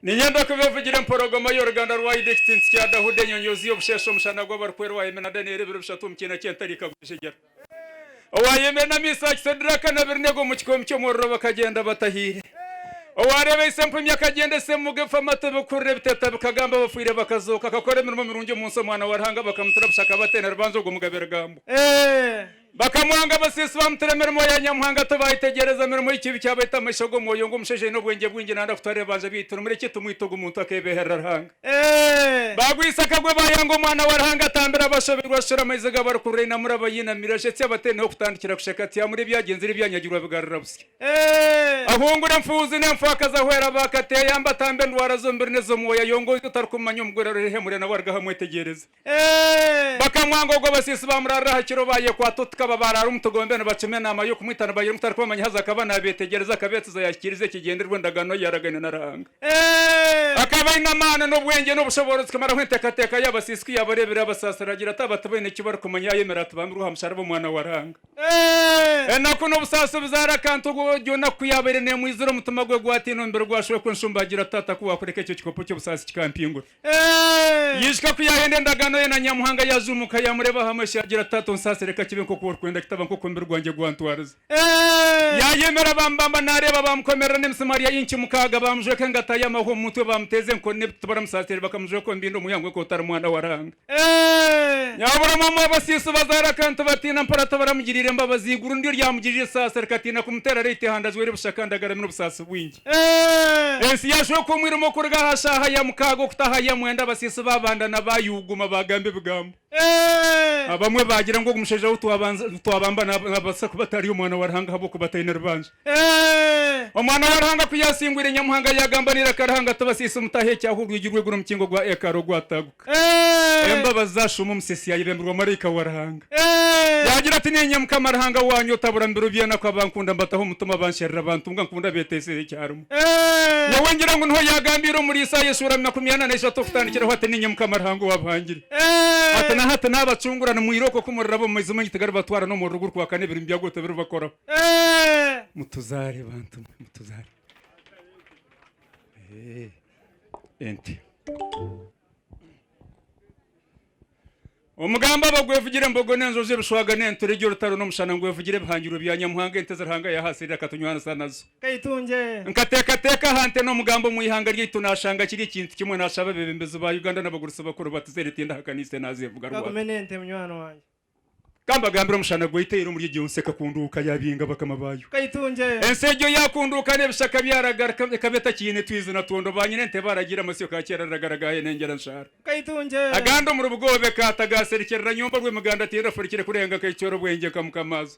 Ninyenda kuba evugire emporogomo y'oruganda rwa Idi Ekitsinsi kya Dahuda Enyonyoozi y'obusheeshe Omushana gw'abarikweera Owayemeera na Danieli Ebiro bishatu omu kiina ky'entarika Gujegyera Owayemeera n'amaiso ha Kisadiraka na Aberunego omu kikoomi ky'omuriro Bakagyenda batahiire Owareeba ise empumi Akagyenda ise emuga efa Amatu ebikuhurira ebiteetaba Bikagamba abafiire bakazooka Akakora emirimo mirungi omu nsi Omwana wa Ruhanga bakamutura busha Akaba ateine rubanja Ogwo Mugabe Rugambo Bakamwanga abaseesi baamuteera emirimo ya Nyamuhanga tibaayetegyereza mirimo y'ekibi kyabaita amaisho g'omwoyo ngu omushaija aine obwengye bwingi naayenda kutwara ebibanja byaitu nimura eki tumwita ogu muntu akeebeherera Ruhanga. Baagwisa akagwe baayanga omwana wa Ruhanga atambira abashobeirwe ashushure amaizi ga barikuhurira ainamura abainamire ashetsye abatee niho kutandikira kusheka ati Amuri ebyagyenziire ebyanyagirwa bigarura busya ahungure enfuuzi n'enfwakazi ahwere abaakata eyamba atambe endwara z'omubiri n'ez'omwoyo ayongoize otarikumumanya omugwera aroreho ihemure nawe arugaho amwetegyereze. Bakamwanga ogwo abasiisi baamuraarira aha kiro baayekwata oti kaba baaraara omu tugombe nibakima enaama y'okumwita nibagira ngu tarikubamanya haza akaba naabeetegyereza akabeetsiza yaahikiiriza ekigyendererwa endagaano ei yaaragaine na Ruhanga. Akaba aine amaani n'obwengye n'obushoboorozi kumaraho enteekateeka y'abasiisi ku yaabareebire yaabasaasira agira ati aba tibaine eki barikumanya yaayomera atibambirwe aha musharaba Omwana wa Ruhanga. Enaku n'obusaasi obuzaara akantu ogwo egyo naku ku yaabaire neemwizira omutima gwe gwatiina omubiri gwashwekwa enshumba agira ati Tata ku waakureka ekyo kikopo ky'obusaasi kikampingura Yaija ku yaayenda endagaano ye na Nyamuhanga yaaza omu ka yaamureeba aha maisho yaagira ati, Taata onsaasire ka kibe nk'oku orikwenda kitaba nk'oku omubiri gwangye gwantwarize. Yaayemera baamubamba naareeba baamukomerera n'emisimaari ya inci mukaaga baamujweka engata y'amahwa omu mutwe baamuteeza enkoni n'ebiti baramusaasira bakamujweka omu bindo ngu yangwe nk'oku tari mwana wa Ruhanga. Yaaburamu omu abasiisi bazaara akantu batiina mpora tibaramugiriire mbabazi. Eiguru niryo ryamugiriire esaasi rikatiina kumuteera reeto eihanda ajwaire busha kandi agarami n'obusaasi bwingi. Ensi yaashweka omwirima okuruga aha shaaha ya mukaaga okutaaha ya mwenda abasiisi baabandana baayuuguma baagamba ebigambo. Abamwe baagira ngu ogu mushaija ou twabamba naabaasa kuba atari Omwana wa Ruhanga ahabw'okuba ataine rubanja. Omwana wa Ruhanga ku yaasingwire Nyamuhanga yaagamba n'eiraka Ruhanga ati, Abasiisi mutaahe ekyaaho orwigi rw'eiguru omukingo gwa ekaari ogwatagwa. Embabazi za Shumba Omuseesi yaayebembirwa maraika wa Ruhanga. Yaagira ati, Niinye Mukama Ruhanga waanyu otabura mu biro by'enaku abankunda mbataho omu mutima bansherura abantunga nkunda beeteeseho ekyarimo. Nyowe ngira ngu niho yaagambiire omuri Isaaya eshuura makumi ana na ishatu okutandikiraho ati, Niinye Mukama Ruhanga owaabahangire. Ati, Na hati naabacungura, nimwira okwo ku muriraba omu maizi maingi tigaribatwara n'omuriro gurikwaka n'ebirimi byago tibiribakoraho. Mutuzaare bantu mwe, mutuzaare. ente. Omugambo abo gwevugire embogo n'enjojo, ebishwaga n'enturegye, orutaro n'omushana, ngu evugire ebihangirwe bya Nyamuhanga, ente ezi Ruhanga yaaha Asiirire akatunywanisa nazo. Nkateekateeka aha nte n'omugambo omu ihanga ryaitu naashanga kiri ekintu kimwe, naashaba abeebembezi ba Uganda n'abagurutsi bakuru batuze ente ndahakanise naazeevuga rwatu. Ka mbagambire omushana gwaitaire omuri egyo nsi ekakunduuka yaabinga bakama baayo. Ensi egyo yaakunduuka n'ebishaka byaragarika, ekaba etakiine twizi na twondo, baanyina ente baaragiire amasyo ka kyeera riragaragaha hene engyera nshaara. Agandi omuri bugoobe ka, tagaaserikirira nyombi orw'emigaanda tiraafurikire kurenga ka ekicooro bwengye nka mukama aza.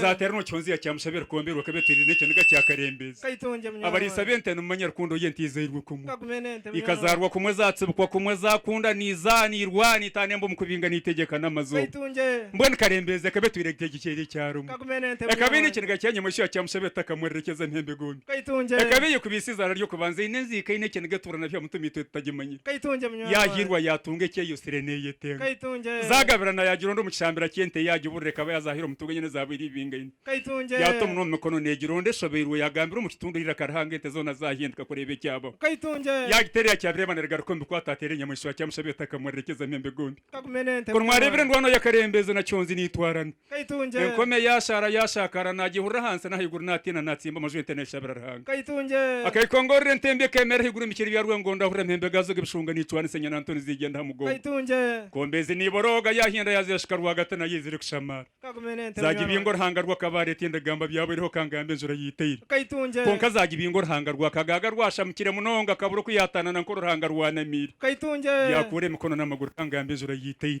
Zaatera nokihonzya kya mushabe rukombe rwa kabeteri n'ekiniga kya karembeezi. Abariisa b'ente nimumanya rukundo y'ente izairwe kumwe, ikazaarwa kumwe, zaatsibikwa kumwe, zaakunda niizaa, niirwana, itaana emba omu kubinga, niitegyeka n'amazooba. Mbwenu karembeezi ekaba etwire nka egiceeri ekya rumwe. Ekaba eine ekiniga kya nyamweshu ya kya mushabe etakamurerekyeza mpembe gombi. Ekaba eyekubiise eizaara ry'okubanza, eine enziika, eine ekiniga etuura nabyo aha mutwe mitwe tutagimanyire. yaahiirwa yaatunga eki eyosire neeyetenga. Zaagabirana yaagira ondi omu kishambira ky'ente ye agiburira ekaba yazaahire omu ntunga enye n'ezaabu iri ibinga ina. Yaata omunwa omu mikono neegira ondi eshobeirwe yaagambira omu kitundu eiraka arihanga ente zoona zaahinduka kureeba ekyabaho. Yaagiteera eyakyabireeba neerigaruka omu bikwaato ateera enyamaishwa yakyamusha byota akamureerekyeza mpembe gombi. Kunu mwareebire endwaano y'akarembezo na Kyoonzi niitwarana. Enkomyo yaashaara yaashaakaara, naagyehurira ahansi n'ahaiguru, naatiina, naatsimba amaju, ente neeshabira Ruhanga. Akaikongorora ente embi, ekeemera ahaiguru omu biciri bya rwengo, ndahurira empembe gaazo g'ebishunga niicwanisa enyana nto niziigyenda aha mugongo. Enkombe ezi niiborooga, yaahinda yaazeeshika rwagati nayo ei zirikushamaara. Zaagibingo Ruhanga rwo akaba areeta endagamba byabo eriho kangamba enjura yaitaire. Kwonka zaagibingo Ruhanga rwo akagaaga rwashamukire munonga, akabura oku yaataanana nk'oru Ruhanga rwanamiire. Byakuura emikono n'amaguru kangamba enjura yaitaire.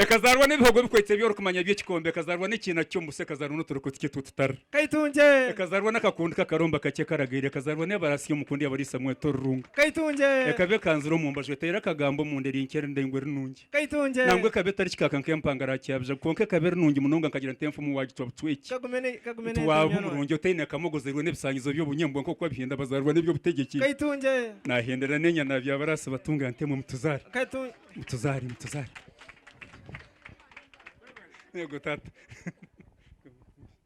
Ekazaarwa n'ebihogo ebikwetsire by'orikumanya by'ekikombe, ekazaarwa n'ekiina ky'omusu, ekazaarwa n'oturiko tukye tw'otutara, ekazaarwa n'akakundi k'akaromba kakye karagaire, ekazaarwa n'ebaraasi y'omukundi eyabariisa mweta orurunga, ekaba ekanzire omu mbaju, eteire akagambo omunda eri nkye erindaingwa eri nungi, nangwa ekaba etari kikaaka nk'empangare aha kyabijagu, kwonka ekaba eri nungi munonga nkagira nti enfumu waagicwa bucweki, nti waaba omurungi otaine kamogo ozairwe n'ebisangizo by'obunyebwa nk'oku abihenda bazaarwa n'eby'obutegyeki, naahendera n'enyana ya byabaraasi batunga ntemwe mutuzaare. Mutuzare, mutuzare. Yego tata.